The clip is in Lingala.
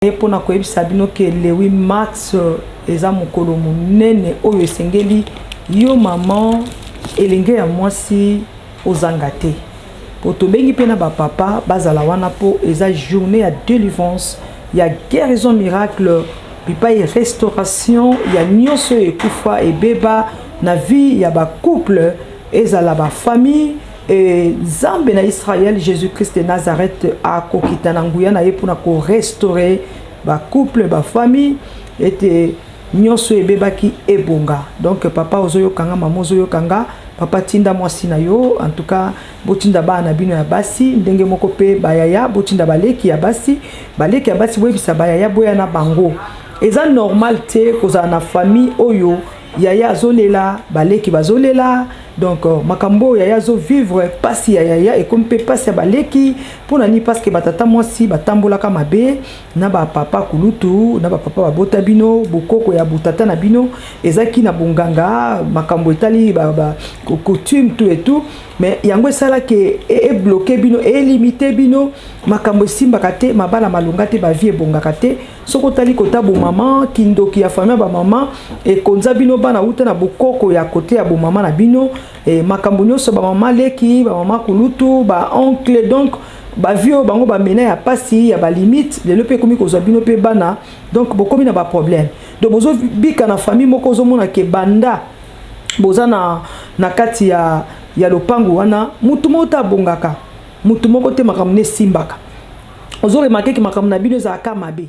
ye mpo na koyebisa bino ke lewi max euh, eza mokolo monene oyo esengeli yo mama elenge ya mwasi ozanga te mpo tobengi mpe na bapapa bazala wana mpo eza journée ya délivrance ya guérison miracle bipai restauration ya nyonso oyo ekufa ebeba na vie ya bacouple ezala bafamille E, Nzambe na Israël, Jésus-Christ de Nazareth akokita na nguya na ye mpo na korestore bacouple bafamille ete nyonso ebebaki ebonga donc papa ozoyoka nga mama ozoyoka nga papa tinda mwasi na yo en tout cas botinda bana na bino ya basi ndenge moko mpe bayaya botinda baleki ya basi baleki ya basi boyebisa bayaya boya na bango eza normal te kozala na famille oyo yaya azolela baleki bazolela donc euh, makambo oyo yaya azovivre mpasi ya yaya ekomi mpe mpasi ya baleki mpo na nini parce que batata mwasi batambolaka mabe na bapapa kulutu na bapapa babota bino bokoko ya botata na bino ezalaki na bonganga makambo etali coutume tout et tout mais yango esalaki e, e, ebloke bino elimite bino makambo esimbaka te mabala malonga te bavie ebongaka te soki otali kota bomama kindoki ya famille ya bamama ekonza bino bana uta na bokoko ya kote ya bomama na bino e, makambo nyonso bamama leki bamama kulutu baoncle donc bavie oyo bango bamena ya mpasi ya balimite lelo mpe ekomi kozwa bino mpe bana donc bokomi na baproblème donc bozobika na famille moko ozomona ke banda boza na, na kati ya, ya lopango wana motu moko te abongaka motu moko te makambo na esimbaka ozoremake ke makambo na bino ezalaka mabe